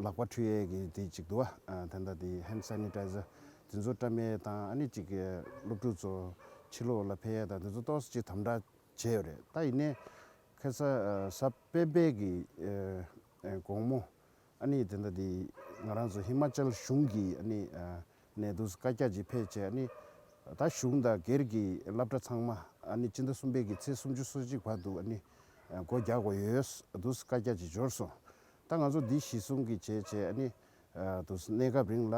ལག་པ་ཁྲུས་ཡས་ཀྱི་དེ་གཅིག་དུ་བ་དེ་འདྲ་དེ Hand Sanitizer དེ་ཚོ་སྤྲ་མའི་དང་ཨ་ནི་གཅིག་སློབ་ཕྲུག་ཚོ་ཕྱི་ལོགས་ལ་ཕེ་ཡས་དང་དེ་ཚོ་གཏོགས་སུ་གཅིག་དམ་དྲག་བྱས་ཡོད་རེད་ད་ཡིན་ནའི་ཁེ་ས་ས་པེ་སྦེལ་གྱི་དགོང་མོ་ཨ་ནི་དེ་འདྲ་དེ་ང་རང་ཚོ་ཧི་མ་ཅལ་གཞུང་གི་ཨ་ནི་ནས་དུས་སུ་བཀའ་རྒྱ་ཅིག་ཕེ་བྱས་ཨ་ནི་ད་གཞུང་དང་སྒེར་གྱི་སླབ་གྲྭ་ཚང་མ་ཨ་ནི་སྤྱི་ཟླ་གསུམ་པའི་གི་ཚེས་སུམ་ཅུ་སོ་གཅིག་བར་དུ་ཨ་ནི་སྒོ་རྒྱག་དགོས་ཡོད་དུས་སུ་བཀའ་རྒྱ་ཅིག་འབྱོར་སོང་ད་ང་ཚོ་འདི་གཞི་བཟུང་གིས་བྱས་བྱས་ཨ་ནི་དུ་གནས་སྐབས་རིང་ལ་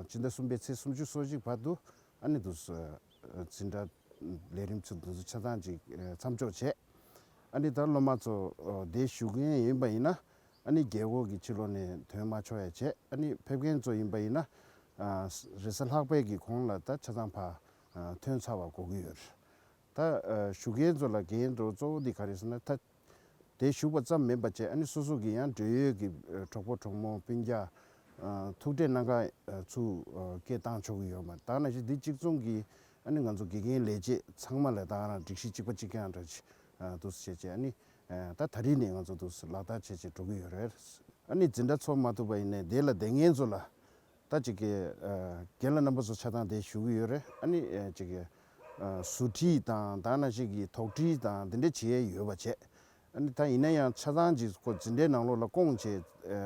སྤྱི་ཟླ་གསུམ་པའི་ཚེས་སུམ་ཅུ་སོ་གཅིག་བར་དུ་ཨ་ནི་དུ་འཛིན་གྲྭ་ལས་རིམ་ཚུགས་འདུན་ཚུགས་ཆ་ཚང་ཅིག་མཚམས་འཇོག་བྱས། ཨ་ནི་ད་སློབ་མ་ཚོ་བསྡད་བཞུགས་མཁན་ཡིན་པ་ཡིན་ན་ཨ་ནི་རྒས་འཁོགས་ཀྱི་ཕྱི་ལོགས་ནས་དོན་མ་ཆོག་ཡ་བྱས་ཨ་ནི་ཕེབས་མཁན་ཚོ་ཡིན་པ་ཡིན་ན་རེས་གཟའ་ལྷག་པའི་གི་གོང་ལ་ད་ཆ་ཚང་ཕ་ཐོན་ཚར་བ་གོ་གི་ཡོད། ད་བཞུགས་མཁན་ཚོ་ལ་འགན་འགྲོ་གཙོ་བོ་འདི་ག་རེད་ཟེར་ན་ད་དེ་བཞུགས་པ་ཙམ་མིན་པ་བཅས་ཨ་ནེ་སོ་སོ་གི་ཡང་འབྲེལ་ཡོད་ཀྱི་གྲོགས་པོ་གྲོགས་མོ་སྤུན་རྒྱ། ཐུག་འཕྲད་གནང་ཁག་ཚུ་སྐད་བཏང་ཆོག་གི་ཡོད་མ་ད་ན་ཞིག་འདི་གཅིག་མཚུངས་ཀྱི་ཨ་ནེ་ང་ཚོ་དགེ་རྒན་ལས་བྱེད་ཚང་མ་ལས་དང་རང་སྒྲིག་གཞི་གཅིག་པ་གཅིག་རྐྱང་འདྲ་འདུག་བྱས་རྗེས་ཨ་ནེ། ད་ད་རིས་ནས་ང་ཚོ་འདུག་ལག་བསྟར་བྱས་རྗེས་འགྲོ་གི་ཡོད་རེད། ཨ་ནེ་འཛིན་གྲྭ་འཚོགས་མ་ཐུབ་པ་ཡིན་ནའི་དེ་ལ་དེ་ངེད་ཚོ་ལ་ད་ཅིག། རྒན་ལགས་རྣམ་པ་ཚོ་ཆ་ཚང་དེ་ཞུ་གི་ཡོད་རེད་ཨ་ནི། ཟུར་ཁྲིད་དང་དག་ན་ཅིག་གིས་དོགས་འདྲི་དང་དེ་འདྲ་བྱས་ཡོད་པ་བྱས། ཨ་ནི་ད་ཡིན་ན་ཡང་ཆ་ཚང་ཅིག་ཁོ་ཇི་འདྲའི་ནང་ལོགས་ལ་སྐོང་བྱས་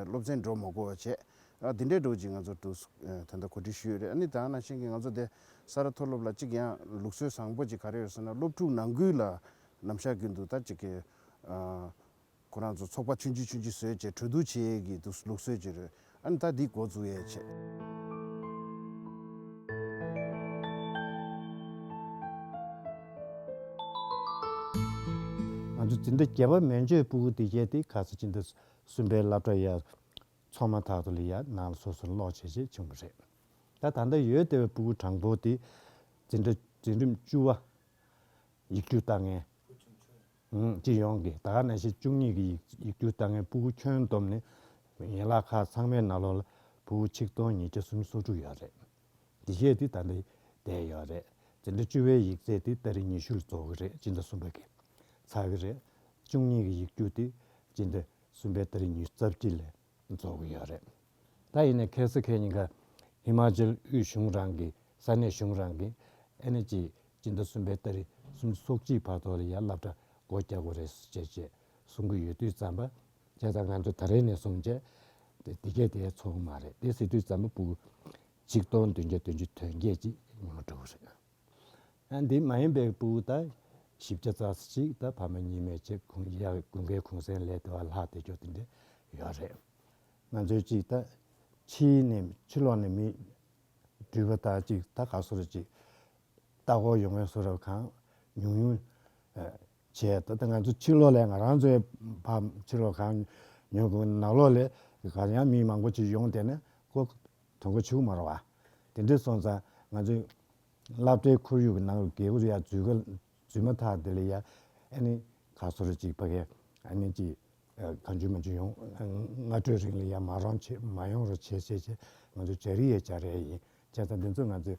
སློབ་ཚན་འགྲོ་མ་དགོས་པ་བྱས། ཨ་དེ་འདྲའི་འགྲོ་ཅིག་ང་ཚོ་དུ་དེ་འདྲ་གོ་སྒྲིག་ཞུས་ཡོད་རེད་ཨ་ནི་དག་ན་ཅིག་གིས་ང་ཚོ་དེ་ས་རཱ་མཐོ་སློབ་ལ་ཅིག་ཡང་ལུགས་སྲོལ་བཟང་པོ་ཅིག་ག་རེ་ཡོད་ཟེར་ན་སློབ་ཕྲུག་ནང་ཁུལ་ལ་ནམ་ཞག་རྒྱུན་དུ་ད་ཅིག། ཁོ་རང་ཚོ་ཚོགས་པ་ཆུང་ཆུང་ཆུང་ཆུང་བཟོས་བྱས་གྲོས་བསྡུར་བྱས་ཡས་གི་འདུག་ལུགས་སྲོལ་གྱི་རོལ་ཨང་ད་འདི་འགོ་འཛུགས་ཡས་བྱས། ང་ཚོ་འདི་འདྲ་རྒྱལ་བ་མན་ཇོའི་སྤུ་གུ་འདི་བྱས་དེ་ག་ཚོད་ཅིག་འདུག་སུན་པའི་བླ་བྲོ་ཡས་ཚོགས་མ་ཐག་ཏུ་ལི་ཡ་ནང་ལ་སོ་སོར་ལོག་བྱས་བྱས་བྱུང་བ་རེད། ད་ད་ལྟ་ཡོད་བལྟས་བའི་སྤུ་གུ་དྲང་པོ་དེ་འཛིན་གྲྭ་འཛིན་རིམ་བཅུ་བ། ཡིག་འབྲུ་རྟགས་ངན། སྤྱི་ཡོངས་ཀྱི་ཟླ་གནས་ཕྱེད་བཅུ་གཉིས་ཀྱི་ཡིག་སྒྱུར་ལྟ་ངན་སྤུ་གུ་ཁྱོན་བསྡོམས་ནི། ཡན་ལག་ཁག་ཚང་མའི་ན་ལོ་ལ་སྤུ་གུ་ཆིག་སྟོང་ཉིས་བརྒྱ་སུམ་སོ་དྲུག་ཡོད་རེད། འདི་བཞེས་ཏེ་ད་ལྟ་བསྡད་ཡོད་རེད། འདི་ཟླ་བཅུ་བའི་ཡིག་ཚད་དེ་ད་རེས་ཉི་ཤུ་ལ་རྫོགས་གི་རེད་སྤྱི་ཟླ་གསུམ་པ་གི་ཚར་གི་རེད། བཅུ་གཉིས་ཀྱི་ཡིག་སྒྱུར་དེ་སྤྱི་ཟླ་གསུམ་པའི་ད་རེས་ཉི་རྩ་བརྒྱད་ལས་འཛོལ་གྱི་ཡོད་རེད། ད་ཡིན་ནའི་ཁེ་སི་ཁེ་གཉིས་ཀ་ཧི་མ་ཅལ་དབུས་གཞུང་རང་གི་ས་གནས་གཞུང་རང་གི་ཨེ་ནེ་ཅི་སྤྱི་ཟླ་གསུམ་པའི་ལྟ་རི་གསུམ་ཚོགས་སྤྱིའི་བར་ཐོག་ལ་ཡར་ལབ་གྲ་སྒོ་རྒྱག་དགོས་རེད་ཟེར་ཆེད་ཅེས་གསུང་གི་ཡོད་དུས་ཙམ་པ་བྱས་ད་ང་ཚོ་ད་རེས་ནས་བཟུང་བྱས་འདི་སྐད་དེ་ཚོགས་མ་རེད་དེ་ཟེར་དུས་ཙམ་པ་པུ་གཅིག་སྟོང་བདུན་བརྒྱ་བདུན་ཅུ་དོན་བརྒྱད་ཅེས་ཉི་མ་དྲུག་རེད། འདི་མ་ཡིན་པའི་སྤུའུ་ད་བཞི་བརྒྱ་རྩ་གཅིག་ད་ཕ་མ་གཉིས་མེད་ཅེས་ཁུངས་ཡར་དགོན་པའི་གུང་སེང་ལས་ལྟེ་བ་ལྷག་དེ་ཅོག་དེ་འདྲས་ཡོད་རེད། ང་ཚོའི་ཅིག་ད་ཕྱིའི་ནས་ཕྱི་ལོག་ནས་མི་འདྲུད་པ་ད་ཅིག་ད་ག་སོ་ར་ཅིག་ད་ཁོག་ཡོང་མཁན་སོ་ར་གང་ཉུང་ཉུང་བྱས་ད་ད་ང་ཚོ་ཕྱི་ལོག་ལས་ང་རང་ཚོའི་ཕ་ཕྱི་ལོག་གང་ཉུང་ཉུང་ནག་ལོག་ལས་གར་ཡང་མི་མང་པོ་ཅིག་ཡོང་དེ་ནས་ཁོ་དོན་གོ་ཆུག་མ་རུང་བ། དེ་འདྲས་སོང་ཙང་ང་ཚོས། བླ་བྲེའི་ཁོར་ཡུག་གི་ནང་ལ་རྒས་གུར་ཡར་འཛུལ་ག་ལ་འཛུལ་མ་ཐག་དེ་ལ་ཡར་ཨ་ནི་ག་སོ་ར་ཅིག་ཕ་གས་ཨ་ནི་ཅིག་ག་འཇུས་མ་འཇུས་ཡོང། སྔ་དྲོའི་རིང་ལ་ཡར་མ་རོང་བྱེད་མ་ཡོང་རོགས་བྱེད་བྱེད་བྱེད་ང་ཚོ་བྱ་རི་ཡས་བྱ་རལ་ཡིན་བྱས་ཙང་དེ་ཚོས་ང་ཚོས་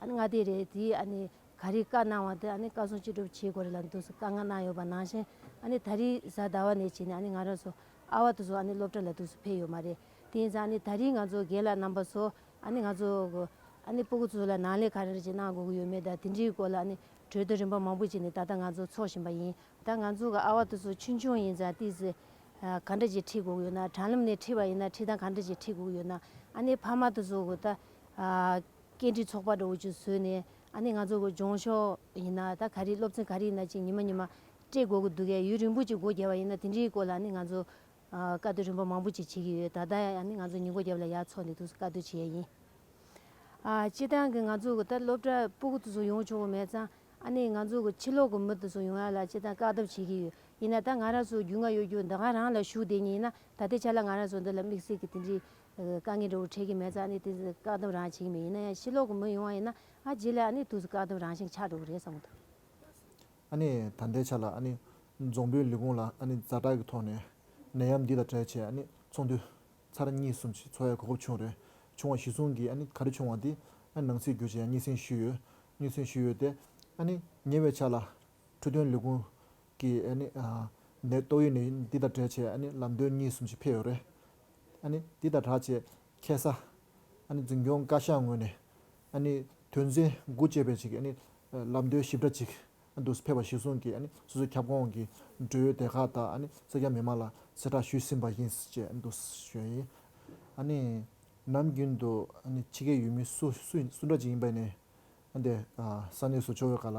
ཨ་ནི་ང་དེ་རེད་དེ་ཨ་ནི་ག་རེ་བཀའ་གནང་བ་དེ་ཨ་ནི་བཀའ་སྲུང་ཅི་སྒྲུབ་བྱེད་དགོས་རེད་ལ་འདུག་སུ་བཀའ་ང་གནང་ཡོད་པ་ནང་བཞིན་ཨ་ནི་ད་རིས་གཟའ་ཟླ་བ་ནས་བྱས་ནས་ཨ་ནི་ང་རང་སུ་ཨ་བ་དུ་སུ་ཨ་ནི་སློབ་གྲྭ་ལ་དུ་སུ་ཕེབས་ཡོད་མ་རེད་དེ་ཡིན་ཙང་ཨ་ནི་ད་རིས་ང་ཚོ་རྒན་ལགས་རྣམ་པ་སུ་ཨ་ནི་ང་ཚོ་ཨ་ནི་སྤུ་གུ་སུ་ལ་ནང་ལས་ག་རེ་རེ་བྱེད་གནང་དགོས་ཀྱི་ཡོད་མེད་དང་དེ་འདྲིའི་སྐོར་ལ་ཨ་ནི་གྲོས་བསྡུར་རིམ་པ་མང་པོ་བྱས་ནས་ད་ལྟ་ང་ཚོ་འཚོགས་བཞིན་པ་ཡིན་ད་ང་ཚོ་གི་ཨ་བ་དུ་སུ་ཆུང་ཆུང་ཡིན་ཙང་ཏི་སི་ག་འདྲ་ཅིག་ཁྲིད་དགོས་ཀྱི་ཡོད་ན་དྲང་ལམ་ནས་ཁྲིད་པ་ཡིན་ན་ཁྲིད་སྟངས་ག་འདྲ་ཅིག་ཁྲིད་དགོས་ཀྱི་ཡོད་ན་ཨ་ནི་ཕ་མ་དུ་སུ་གི་ད། སྐད་འཕྲིན་ཚོགས་པ་འདྲ་བོ་ཅིག་བཟོས་ནས་ཨ་ནི་ང་ཚོ་གོ་སྦྱོང་ཤོག་ཡིན་ན་ད་ག་རེ་སློབ་ཚན་ག་རེ་ཡིན་ན་ཅིག་ཉི་མ་ཉི་མ་སྤྲད་དགོས་ཀྱི་འདུག་གས་ཡུན་རིང་པོ་ཅིག་སྒོ་རྒྱབ་པ་ཡིན་ན་དེ་འདྲིའི་སྐོར་ལ་ཨ་ནི་ང་ཚོ་བཀའ་སྡོད་རིམ་པ་མང་པོ་ཅིག་བྱེད་ཀྱི་ཡོད་ད་ལྟ་ཡང་ཨ་ནི་ང་ཚོ་ཉིན་སྒོ་རྒྱབ་ལ་ཡར་འཚོགས་ནས་འདུག་བཀའ་སྡོད་བྱེད་ཡས་ཡིན། ཨ་སྤྱི་བཏང་གི་ང་ཚོ་གོ་ད་སློབ་གྲྭ་སྤུ་གུ་དུ་སུ་ཡོང་ཆོག་གི་མེད་ཙང་ཨ་ནི་ང་ཚོ་གོ་ཕྱི་ལོག་གི་མི་དུ་སུ་ཡོང་ཡ་ལ་སྤྱི་བཏང་བཀའ་སྡོད་བྱེད་ཀྱི་ཡོད་ཡིན་ན་ད་ང་རང་སུ་རྒྱུས་མངའ་ཡོད་རྒྱུ་འདི་ག་རང་ལ་ཞུགས་བསྡད་ཉིན་ཡིན་ན་ད་ལྟའི་ཆ་ལ་ང་རང་སུ་འདི་ལ་དམིགས་བསལ་གྱི་དེ་འདྲིའི་བཀའ་ངའི་འགྲོ་བ་འཕྲལ་གྱི་མེ་བཙའ་ནི་དུས་སུ་བཀག་སྡོམ་རང་བྱེད་ཀྱི་མི་ཡིན་ན་ཡང་ཕྱི་ལོག་གི་མི་ཡོང་བ་ཡིན་ན་ཨ་རྗེས་ལ་ཨ་ནི་དུས་སུ་བཀག་སྡོམ་རང་བཞིན་ཆགས་འགྲོ་གི་རེད་བསམ་གི་འདུག། ཨ་ནི་ད་ལྟའི་ཆ་ལ་ཨ་ནི་རྫོང་དཔོན་ལི་ཀོང་ལ་ཨ་ནི་རྫ་དྲག་གི་ཐོག་ནས་ནད་ཡམས་འདི་དང་བྲལ་ཆེད་ཨ་ནི་ཚོགས་འདུ་ཚར་གཉིས་གསུམ་བྱས་འཚོ་བའི་གོ་སྐབས་བྱུང་རེད་བྱུང་བ་གཞི་བཟུང་གིས་ཨ་ནི་ག་རེ་བྱུང་བ་དེ་ཨ་ནི་ནང་སྲིད་བསྒྱུར་བྱས་ཡང་སྙན་སེང་ཞུས་ཡོད་སྙན་སེང་ཞུས་ཡོད་དེ་ཨ་ནི་ཉེ་བའི་ཆ་ལ་འཕྲོད་བསྟེན་ལི་ཀོང་གིས་ཨ་ནི་ནད་ཏོག་ཡོད་ནད་འདི་དང་བྲལ་ཆེད་ཨ་ནི་ལམ་སྟོན་གཉིས་གསུམ་ཞིག་ཕེབས་ཡོད་རེད་འདི་ལྟར་གྲགས་ཅེས་ཁྱད་ས། འཛིན་སྐྱོང་བཀའ་ཤག་ངོས་ནས། དོན་ཚན་དགུ་བཅས་པའི་ཆེད་ཀྱི་ལམ་སྟོན་ཞིབ་ཕྲ་ཅིག་འདུག་ཕེབས་པ་གཞིར་བཟུང་གིས་སོ་སོའི་ཁྱབ་ཁོངས་ཀྱི་འབྲེལ་ཡོད་སྡེ་ཁག་དང་སེར་སྐྱ་མི་མང་ལ་གསལ་བསྒྲགས་ཞུས་ཟིན་པ་ཡིན་ཅེས་འདུག་ཞོན་ཡིན། ནམ་རྒྱུན་དུ་ཕྱི་རྒྱལ་ཡུལ་མི་སུ་འདྲ་ཅིག་ཡིན་པ་ནས་ས་གནས་སུ་ཕྱོགས་ཡོད་ག་ལ།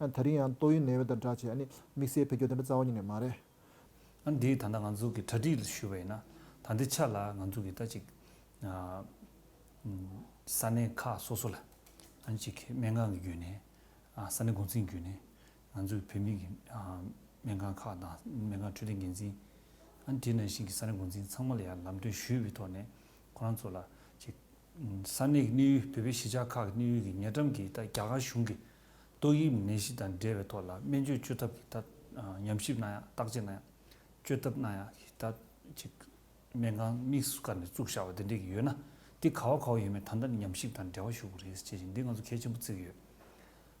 ད་རིང་ཡང་ཏོག་དབྱིབས་ནད་དབྱེ་དང་སྦྲགས་ཆེད་དམིགས་བསལ་བེད་སྐྱོ་དེ་འདྲ་རྩ་བ་ཉིད་ནས་མ་རེད། ཨ་འདིས་ད་ལྟ་ང་ཚོ་གི་གྲ་སྒྲིག་ལ་ཞུས་པ་ཡིན་ན་ད་འདི་ཆ་ལ་ང་ཚོ་གི་ད་ཅིག་ས་གནས་ཁག་སོ་སོ་ལ་ཨ་ཅིག་སྨན་ཁང་གི་བརྒྱུད་ནས་ས་གནས་འགོ་འཛིན་བརྒྱུད་ནས་ང་ཚོ་གི་བོད་མི་གི་སྨན་ཁང་ཁག་དང་སྨན་ཁང་འཕྲོད་བསྟེན་འགན་འཛིན་ཨ་དེ་ནང་བཞིན་གི་ས་གནས་འགོ་འཛིན་ཚང་མ་ལ་ཡང་ལམ་སྟོན་ཞུས་པའི་ཐོག་ནས་ཁོ་རང་ཚོ་ལ་ཅིག་ས་གནས་གི་གནས་ཡུལ་བོད་པའི་གཞིས་ཆགས་ཁག་གི་གནས་ཡུལ་གི་ཉེ་འགྲམ་གི་ད་རྒྱ་གར་གཞུང་གི་ཏོག་དབྱིབས་ནད་གཞི་དང་འབྲེལ་བའི་ཐོག་ལ་སྨན་བཅོས་བཅོས་ཐབས་ཀྱི་ཐད་ཉམས་ཞིབ་གནང་ཡང་བརྟག་དཔྱད་གནང་ཡང། བཅོས་ཐབས་གནང་ཡང་ཀྱི་ཐད་ཅིག། སྨན་ཁང་དམིགས་སུ་བཀར་ནས་བཙུགས་བཞག་པ་དེ་འདྲས་ཀྱི་ཡོད་ན། དེ་ག་བ་ག་བ་ཡིན་མིན་ད་ལྟ་ནས་ཉམས་ཞིབ་དང་འབྲེལ་བ་ཞུ་དགོས་རེད་ཅེས་བྱས་ཤིང་འདིས་ང་ཚོ་གལ་ཆེན་པོ་བརྩི་གི་ཡོད།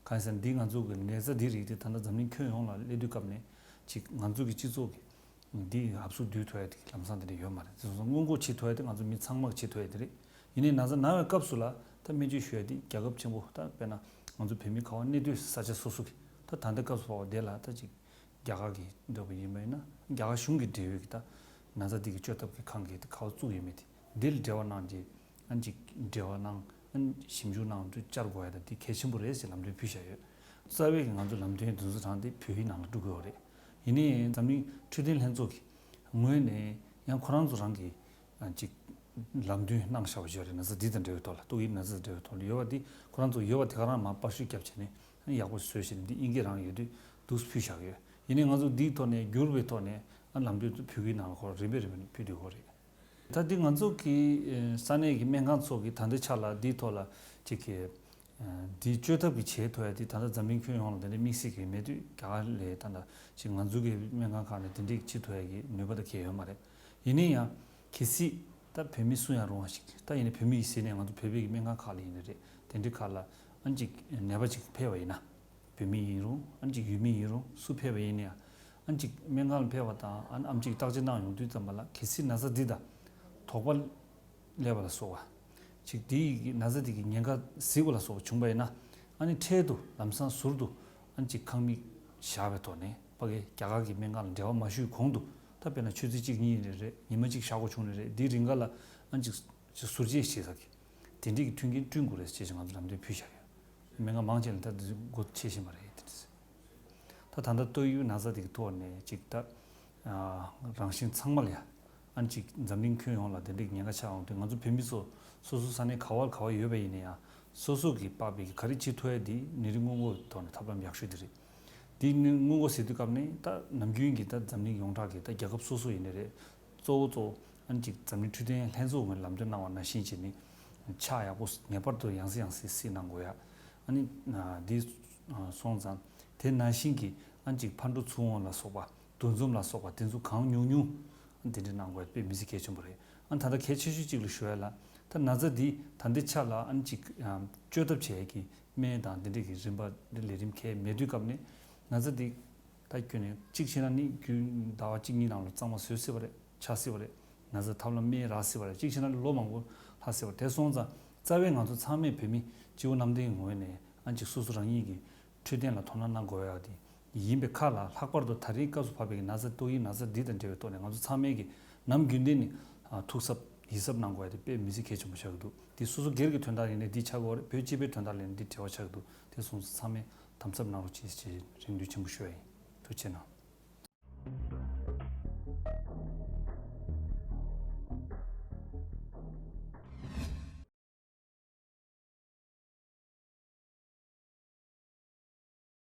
གང་ཡིན་ཟེར་ན་འདིས་ང་ཚོ་གི་ནད་ཚ་འདིའི་རིགས་དེ་ད་ལྟ་འཛམ་གླིང་ཁྱོན་ཡོངས་ལ་སླེབས་དུས་སྐབས་ནས་ཅིག་ང་ཚོ་གི་སྤྱི་ཚོགས་ཀྱི་འདི་ཡི་ཧབ་སུ་བསྡུས་ཐུ་ཡ་དེ་གི་ལམ་སང་དེ་འདྲས་ཡོད་མ་རེད། དེ་བཟོ་ས་སྔོན་འགོག་བྱེད་ཐུ་ཡ་དེ་ང་ཚོ་མི་ཚང་མ་གི་བྱེད་ཐུ་ཡ་དེ་རེད། ཡིན་ནའི་ན་ཚ་ན་བའི་སྐབས་སུ་ལ་ད་སྨན་བཅོས་ཞུ་ཡ་དེ་རྒྱ་ཁབ་ཆེན་པོ་ད་དཔེར་ན་ང་ཚོ་བོད་མི་ཁ་བ་གནས་སྡོད་ས་ཆ་སོ་སོ་གི་ད་ད་ལྟ་སྐབས་སུ་བ་བ་བསྡད་ལ་ད་ཅིག་རྒྱ་གར་གི་སྡོད་པ་ཡིན་པའི་ན་རྒྱ་གར་གཞུང་གི་འབྲེལ་ཡོད་ཀྱི་ད་ན་ཚ་དེ་གི་བཅོས་ཐབས་ཀྱི་ཁང་གི་ད་ཁ་བ་བཙུགས་ཡོད་མེད་དེ་འདིར་འབྲེལ་བ་གནང་རྗེས་ཨ་ཅིག་འབྲེལ་བ་གནང་ཨ་ཞིབ་འཇུག་གནང་དུས་བཅར་དགོས་ཡ་ད་དེ་གལ་ཆེན་པོ་རེད་ཅེས་ལམ་སྟོན་ཕུལ་བཞག་ཡོད། རྩ་བའི་གི་ང་ཚོ་ལམ་སྟོན་དེ་ཚོ་དྲངས་ཏེ་བོད་ཡིག་ནང་ལ་བསྒྲུབ་དགོས་བ་རེད། ཡིན་ནའི་འཛམ་གླིང་འཕྲོད་བསྟེན་ལྷན་ཚོགས་ཀྱི་ངོས་ནས་ཡང་ཁོ་རང་ཚོ་རང་གི་ཅིག། ལམ་བདུན་སྣང་བྱ་བ་བཞི་རེ་ན་ཚ་དྲི་དང་འབྲེལ་བའི་ཐོག་ལ་ཏོག་དབྱིབས་ན་ཚ་དང་འབྲེལ་བའི་ཐོག་ལ་ཡོད་པ་འདི་ཁོ་རང་ཚོ་ཡོད་པ་དེ་ག་རང་མ་པར་ཤུལ་རྒྱབ་བྱས་ནས་ཡག་པོ་བཟོས་ཞེས་འདི་དབྱིན་སྐད་རང་ཡོད་དུས་དུགས་ཕུལ་བཞག་ཡོད་ཡིན་ནའི་ང་ཚོ་འདིའི་ཐོག་ནས་འགྱུར་བའི་ཐོག་ནས་ལམ་སྟོན་དུ་ཕུལ་གི་ནང་ལ་ཁོ་རང་རིམ་པས་རིམ་པས་ཕུལ་འདོད་ཁོ་རེད། ད་འདི་ང་ཚོ་གི་ས་གནས་ཀྱི་སྨན་ཁང་ཚོགས་ཀྱི་ད་འདི་ཆ་ལ་འདིའི་ཐོག་ལ་ཅིག་གི། འདི་བཅོས་ཐབས་ཀྱི་བྱེད་ཐུ་ཡ་འདི་ད་ད་འཛམ་གླིང་ཁྱོན་ཡོངས་ལ་འདི་འདྲའི་དམིགས་བསལ་གྱི་མེད་དུས་རྒྱ་གར་ལས་ད་ད་ཅིག་ང་ཚོ་གི་སྨན་ཁང་ཁག་ནས་འདི་འདྲའི་ཅིག་ཐུ་ཡ་ཀྱི་ནུས་པ་ད་གས་ཡོད་མ་རེད། ཡིན་ནའི་ཡང། གལ་སྲིད། ད་བོད་མི་སུ་ཡང་རུང་བ་ཞིག་ད་ཡིན་ན་བོད་མི་ཡིས་ཟེར་ནས་ང་ཚོ་བོད་པའི་སྨན་ཁང་ཁག་ལ་ཡིན་ནི་རེད་དེ་འདྲའི་ཁག་ལ། ཨང་ཅིག་ནད་པ་ཅིག་ཕེབས་པ་ཡིན་ན། བོད་མི་ཡིན་རུང་ཨང་ཅིག་ཡུལ་མི་ཡིན་རུང་སུ་ཕེབས་པ་ཡིན་ནའི་ཡང། ཨང་ཅིག་སྨན་ཁང་ལ་ཕེབས་པ་དང་ཨང་ཅིག་བརྟག་དཔྱད་གནང་ཡོང་དུས་ཙམ་པ་ལ་གལ་སྲིད་ན་བཟའ་འདི་དང། དོགས་པ། ཀླད་པ་ལ་སོགས་བ། ཅིག་དེ་ཡི་གི་ན་བཟའ་དེ་གི་ཉེན་ཁ་གཟིགས་པ་ལ་སོགས་པ་བྱུང་པ་ཡིན་ན། ཨང་ནི་འཕྲལ་དུ་ལམ་སང་ཟུར་དུ་ཨང་ཅིག་ཁང་མིག་བཞག་པའི་ཐོག་ནས་པ་ཀའི་རྒྱ་གར་གི་སྨན་ཁང་ལ་འབྲེལ་བ་མ་ཞུས་གོང་དུ། ད་དཔེར་ན་ཆོས་ཚིགས་གཅིག་གཉིས་རེ་རེ་ཉི་མ་གཅིག་བཞག་གོ་ཆུང་རེ་རེ་དེའི་རིགས་འགའ་ལ་ཨང་གཅིག། ཅིག་ཟུར་བཅད་བྱེད་ས་གི། དེ་འདྲིས་ཀྱི་མཐུན་རྐྱེན་བསྐྲུན་དགོས་རེད་ཅེས་ང་ཚོ་འགྲམ་སྟོན་ཕུལ་བཞག་ཡོད། མི་འགའ་མང་ཆེ་ལ་ད་དེ་ཚོའི་སྒོ་ཕྱེ་བཞིན་པ་རེད། ད་ད་ལྟ་ཏོག་ཡུའི་ན་བཟའ་དེ་གི་ཐོག་ནས་ཅིག་ད། རང་བཞིན་ཚང་མ་ལ་ཡ། ཨང་གཅིག་འཛམ་གླིང་ཁྱོན་ཡོངས་ལ་དེ་འདྲིས་ཀྱི་ཉེན་ཁ་ཆགས་འོང་དུས་ང་ཚོ་བོད་མི་ཚོ་སོ་སོའི་ས་ནས་ག་བར་ག་བར་ཡོད་པ་ཡིན་ན་ཡང་སོ་སོ་གིས་དཔག་པའི་གི་ག་རེ་བྱེད་ཐུབ་ཡ་དེ་ནི་རི་སྔོན་འགོ་བའི་ཐོག་ནས་ཐབས་ལམ་ཡག་ཤོས་དེ་རེད། འདི་ནི་དངུལ་སྒོར་ཟེར་དུས་སྐབས་ནི་ད་ནམ་རྒྱུན་གྱི་ད་འཛམ་གླིང་ཡོངས་གྲགས་ཀྱི་ད་རྒྱལ་ཁབ་སོ་སོ་ཡིན་ནི་རེད། གཙོ་བོ་གཙོ་བོ་ཨ་ནི་གཅིག་འཛམ་གླིང་འཕྲུལ་རྟའི་ལྷན་ཚོགས་ངོས་ལམ་སྟོན་གནང་བ་ན་བཞིན་གྱི་ནི་ཕྱག་ཡག་པོ་ངེས་པར་དུ་ཡང་སྲིད་ཡང་སྲིད་སྲིད་གནང་དགོས་ཡ། ཨ་ནི་འདི་སོང་ཙང་དེ་ན་བཞིན་གྱི་ཨ་ནི་གཅིག་ཕར་འགྲོ་ཚུར་འོང་ལ་སོགས་པ་འདུ་འཛོམས་ལ་སོགས་པ་དེ་ཚོ་གང་ཉུང་ཉུང་ཨ་ནི་དེ་འདྲ་གནང་དགོས་ཡ་དཔེ་མི་སྲིད་གལ་ཆེན་པོ་རེད་ཨ་ནི་ད་ལྟ་གལ་ཆེ་ཤོས་གཅིག་ལ་ཞུ་ཡ་ལ་ད་ན་ཙ་འདི་ད་འདི་ཆ་ལ་ཨ་ནི་གཅིག་བཅོས་ཐབས་བྱས་ཡ་གི་སྨན་དང་འདི་འདྲས་ཀྱི་རིམ་པ་འདི་ལས་རིམ་ཁའི་མལ་བསྡུའི་སྐབས་ནས་ན་ཚ་འདི་ད་ཁྱོད་ནས་གཅིག་ཤེས་ན་ནི་རྒྱུན་ཟླ་བ་གཅིག་གཉིས་ནང་ལ་གཙང་མ་བཟོས་སྲིད་པ་རེད་ཆགས་སྲིད་པ་རེད་ན་ཚ་ཐབས་ལམ་སྨན་རག་སྲིད་པ་རེད་གཅིག་ཤེས་ན་ནི་ལོ་མང་པོ་ལྷག་སྲིད་པ་རེད་དེ་སོང་ཙང་རྩ་བའི་ང་ཚོ་ཚང་མས་བོད་མི་སྤྱི་བོ་གནམ་བསྟན་གྱི་ངོས་ནས་ཨ་འཇིགས་སོ་སོ་རང་ཉིད་ཀྱི་འཕྲོད་བསྟེན་ལ་དོ་སྣང་གནང་དགོས་ཡག་དེ་ཡིན་པའི་ཁ་ལ་ལྷག་པར་དུ་ད་རེའི་སྐབས་སུ་བབས་པའི་ན་ཚ་ཏོག་དབྱིབས་ན་ཚ་འདི་དང་འབྲེལ་བའི་ཐོག་ནས་ང་ཚོ་ཚང་མའི་གིས་ནམ་རྒྱུན་དེ་ནི་ཐུགས་གཟབ་ཡིད་གཟབ་གནང་དགོས་ཡ་དེ་དཔེ་མི་ཚིག་གལ་ཆེན་པོ་ཆགས་ཀྱི་འདུག་དེ་སོ་སོ་སྒེར་གྱི་དོན་དག་ཡིན་ནའི་འདི་ཆགས་སྒོ་རེད་བོད་སྤྱི་པའི་དོན་དག་ལས་ནི་འདི་བྲེལ་བ་ཆགས་ཀྱི་འདུག་དེ་གསུངས་ཚེ་ཚང་མས་དམ་གཟབ་གནང་རོགས་གྱིས་ཞེས་རེ་འདུན་ཆེན་པོ་ཞུ་ཡ་ཡིན་ཐུགས་ཆེ་གནང།